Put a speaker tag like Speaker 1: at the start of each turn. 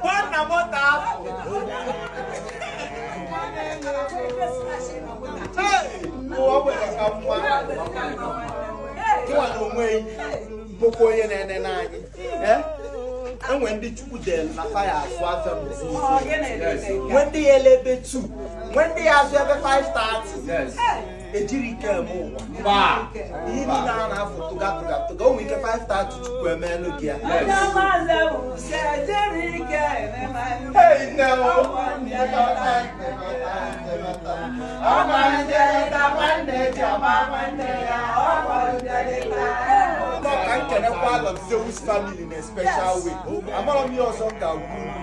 Speaker 1: nwanna moto afọ ụwa nwere ka nwa nwa na onwe bụkwa onye na-ene n'anyị enwe ndị chukwu delu na fa ya-azụ afịa mụzụ nwe ndị ya-ele ebe 2 nwe ndị ya-azụ ebe 5:30 ejirọ ike eme ụwa ihe niile a na-afụ tụga tụga tụga o nwe ike 5:30 chukwu emeelu gị ya ka m kenekwa Lord Zeus family in a special way amarọ m ihe ọzọ m ga-agwa unu